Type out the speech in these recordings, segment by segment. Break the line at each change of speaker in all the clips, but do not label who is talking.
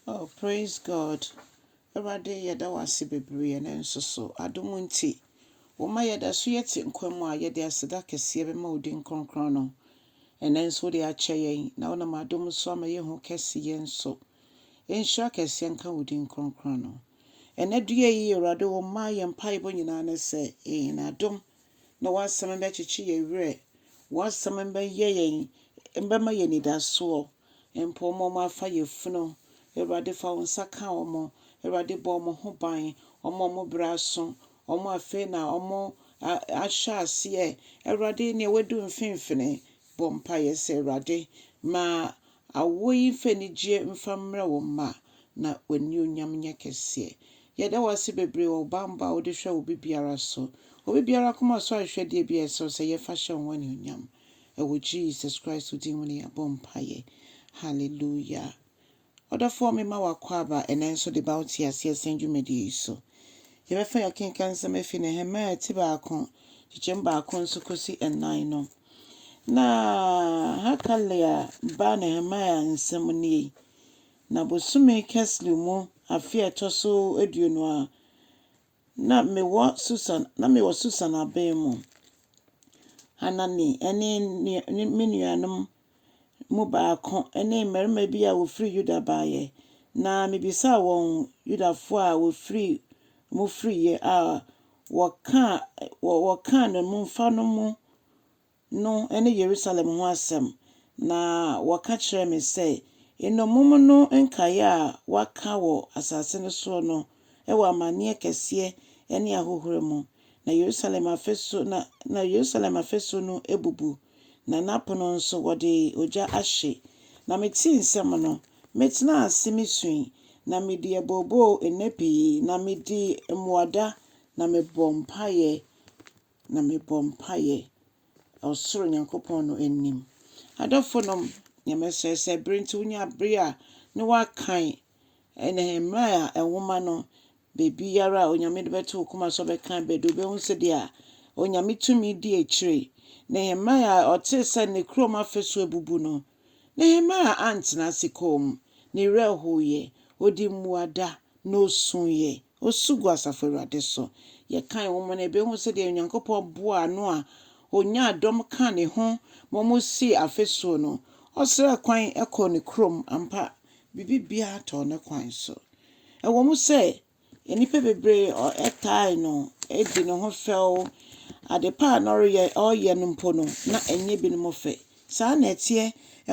Oh praise God Awurade yɛda wo ase bebree ɛnɛ nso so adom nti woma yɛda so yɛte nkwa mu a yɛde aseda kɛseɛ bɛma wo din kronkron no ɛnɛ nso wode akyɛ yɛn na wonam adom so ama yɛhu kɛse yɛn nso nhyira kɛseɛ nka wo din kronkron no ɛnɛ dua yi Awurade wo mma yɛn mpaebɔ nyinaa ne sɛ ɛn adom na w'asɛm bɛkyekye yɛn werɛ w'asɛm bɛyɛ yɛn mbɛma yɛn anidasoɔ Mpo wɔn a wɔafa yafunu, Awurade fa wo nsa ka wɔn. Awurade bɔ wɔn ho ban, wɔn a wɔn berɛ aso, wɔn a afei na wɔahyɛ aseɛ. Awurade, deɛ wadu mfimfini, bɔ mpaeɛ sɛ, Awurade, ma awoɔ yi mfa anigyeɛ mfa mmrɛ wo mma, na w'animuonyam nyɛ kɛseɛ. Yɛda wo ase bebree wɔ wo banbɔ a wode hwɛ obi biara so. Obi biara akoma so ahwehwɛdeɛ bi a ɛsɛ sɛ yɛfa hyɛ wo ho animuonyam. Ɛwɔ Jesus Christ wo din mu ne yɛabɔ mpaeɛ. Hallelujah. Ɔdɔfoɔ me ma w'akwaaba ɛnɛ nso de ba wo te aseɛ sɛn dwumadie yi so. Yɛbɛfa yɛakenka nsɛm afi Nehemiah ti baako, kyekyɛm baako nso kɔsi ɛnan no. Na Hakalia ba Nehemiah nsɛm nie. Na bosome Keslu mu afe a ɛtɔ so aduonu a Na mewɔ Susan, na mewɔ Susan aban mu. Hanani ne ne me nuanom mu baako ne mmarima bi a wɔfiri Yuda baeɛ, na mebisaa wɔn Yudafoɔ a wɔfiri mu firiiɛ a wɔkaa wɔkaa nnommumfa no mu no ne Yerusalem ho asɛm, na wɔka kyerɛɛ me sɛ, Nnommum no nkaeɛ a wɔaka wɔ asase no soɔ no wɔ amanneɛ kɛseɛ ne ahohora mu, na Yerusalem afasuo na, na Yerusalem afasuo no abubu, na n'apono nso wɔde ogya ahye. Na metee nsɛm no, metenaa ase mesui, na medii abooboo nna pii, na medii mmuada, na mebɔɔ mpaeɛ na mebɔ mpaeɛ ɔsoro Nyankopɔn no anim. Adɔfo nom, nea mɛsrɛ sɛ bere nti wonya bere a ne woakan Nehemia nwoma no baabiara a Onyame de bɛto wo koma so bɛkan bɛde wobɛhu sɛdeɛ Onyame tumi di akyire. Nehemia a ɔtee sɛ ne kurom afasuo abubu no, Nehemia antena ase komm, ne werɛ hoeɛ, ɔdii mmuada, na ɔsuiɛ. Osu gu asafo Awurade so. Yɛkan nwoma no a, yebehu sɛdeɛ Onyankopɔn boaa Noa, ɔnyaa dɔm kaa ne ho ma wɔsii afasuo no. Ɔsraa kwan kɔɔ ne kurom. Ampa, biribiara tɔɔ ne kwan so. Ɛwom sɛ nnipa bebree taa no di ne ho fɛw, adepa a na ɔreyɛ no mpo no, na ɛnyɛ binom fɛ. Saa na ɛteɛ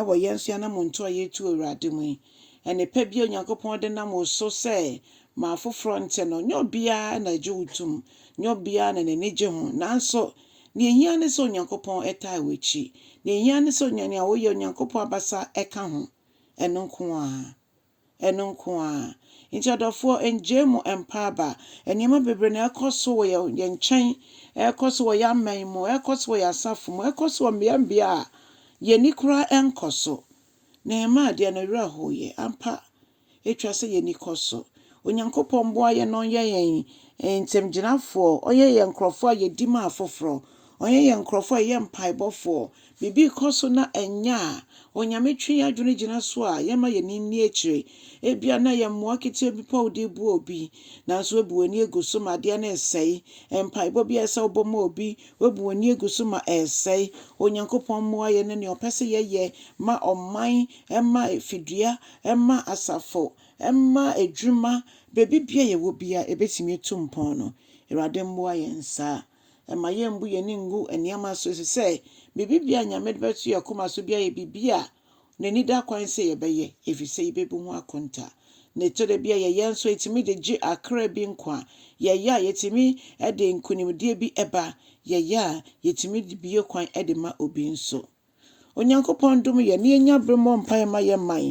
wɔ yɛn nso yɛn anammɔntu a yɛretu Awurade mu yi. Ɛnne pa bi a Onyankopɔn de nam wo so sɛ ma afoforɔ nte no, nyɛ obiara na ɛgye wo tom, nyɛ obiara na n'ani gye ho. Nanso, deɛ ɛhia ne sɛ Onyankopɔn taa w'akyi. Deɛ ɛhia ne sɛ nea woyɛ, Onyankopɔn abasa ka ho. Ɛno nko ara. Ɛno nko ara. Nti ɔdɔfoɔ, ɛngyae mu mpa aba. Nneɛma bebree na ɛrekɔ so wɔ yɛn, yɛn nkyɛn, ɛrekɔ so wɔ yɛn aman mu, ɛrekɔ so wɔ yɛn asafo mu, ɛrekɔ so wɔ mmea mmea a yɛn ani koraa ɛnkɔ so. Nehemiah deɛ, ne werɛ hoeɛ. Ampa, ɛtwa sɛ yɛn ani kɔ so. Onyankopɔn mmoa yɛn na ɔnyɛ yɛn ntamgyinafoɔ, ɔnyɛ yɛn nkorɔfoɔ a yɛdi ma afoforɔ, ɔnyɛ yɛn nkorɔfoɔ a yɛyɛ mpaebɔfoɔ, Biribi rekɔ so na ɛnyɛ a Onyame twe yɛn adwene gyina so a, yɛmma yɛn ani nni akyire. Ebia na ɛyɛ mmoa ketewa bi mpo a wode reboa obi, nanso woabu w'ani agu so ma adeɛ no resɛe. Mpaebɔ bi a ɛsɛ sɛ wobɔ ma obi, woabu w'ani agu so ma ɛresɛe. Onyankopɔn mmoa yɛn ne nea ɔpɛ sɛ yɛyɛ ma ɔman, ma fidua, ma asafo, ma adwuma, baabi biara a yɛwɔ biara, ɛbɛtumi atu mpɔn no. Awurade mmoa yɛn saa. Ɛmma yɛmmu yɛn ani ngu nneɛma so, efisɛ biribiara a Nyame de bɛto yɛn koma so biara yɛ biribi a n'ani da kwan sɛ yɛbɛyɛ, efisɛ yebebu ho akonta. Na ɛtɔ da bi a yɛyɛ nso a, etumi de gye akra bi nkwa. Yɛyɛ a, yetumi de nkonimdie bi ba. Yɛyɛ a, yetumi bue kwan de ma obi nso. Onyankopɔn dom yɛn na yɛnya bere mmɔ mpaeɛ mma yɛn man.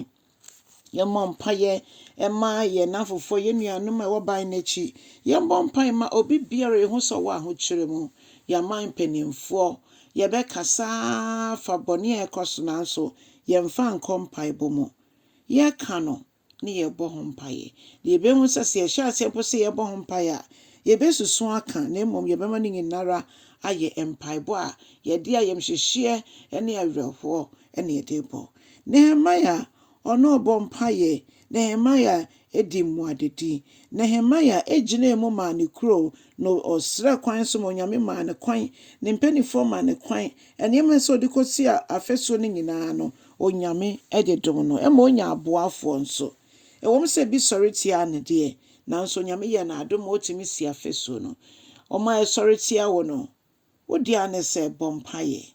Yɛmmɔ mpaeɛ mma yɛn nnamfofoɔ, yɛn nuanom a ɛwɔ ban no akyi. Yɛmmɔ mpaeɛ mma obi biara a yɛn ho sɔ wɔ ahokyerɛ mu. Yɛn aman mpanimfoɔ, yɛbɛkasa afa bɔne a ɛrekɔ so nanso yɛmfa nkɔ mpaebɔ mu. Yɛka no na yɛrebɔ ho mpaeɛ. Na yɛbɛhu sɛ, sɛ yɛhyɛ aseɛ mpo sɛ yɛrebɔ ho mpaeɛ a, yɛbɛsusu aka, na mmom yɛbɛma ne nyina ara ayɛ mpaebɔ a yɛde ayamhyehyeɛ ne awerɛhoɔ na yɛde rebɔ. Nehemia, ɔno ɔbɔɔ mpaeɛ. Nehemia dii mmuadadi. Nehemia gyinaa mu maa ne kuro, na ɔsrɛɛ kwan nso ma Onyame maa no kwan. Ne mpaninfoɔ maa no kwan. Nneɛma a ɛsɛ sɛ ɔde kɔsi afasuo no nyina ara no, Onyame de dom no ma onya aboafoɔ nso. Ɛwom sɛ bi sɔre tia no deɛ, nanso Onyame yɛ no adom ma otumi si afasuo no. Wɔn a ɛsɔre tia wo no, wo dea ne sɛ bɔ mpaeɛ.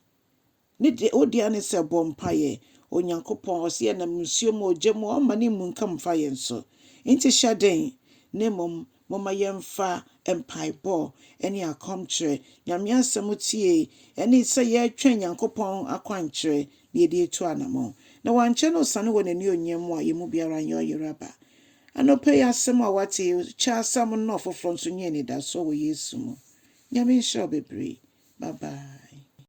Ne de, wo dea ne sɛ bɔ mpaeɛ. Onyankopɔn, ɔse yɛnam nsuo mu, ogya mu, ɔmma ne mmunkam mfa yɛn so. Enti hyɛ den, na mmom Momma yɛmfa mpaebɔ ne akɔmkyerɛ, Nyame Asɛm tie, ne sɛ yɛretwɛn Nyankopɔn akwankyerɛ na yɛde atu anamɔn. Na wankyɛ na osiane wɔ N'anuonyam mu a yɛn mu biara nyɛ ɔyeraba. Anɔpa yi asɛm a woate yi, kyɛ asɛm no na ɔfoforɔ nso nya anidasoɔ wɔ Yesu mu. Nyame nhyira wo bebree. Bye bye.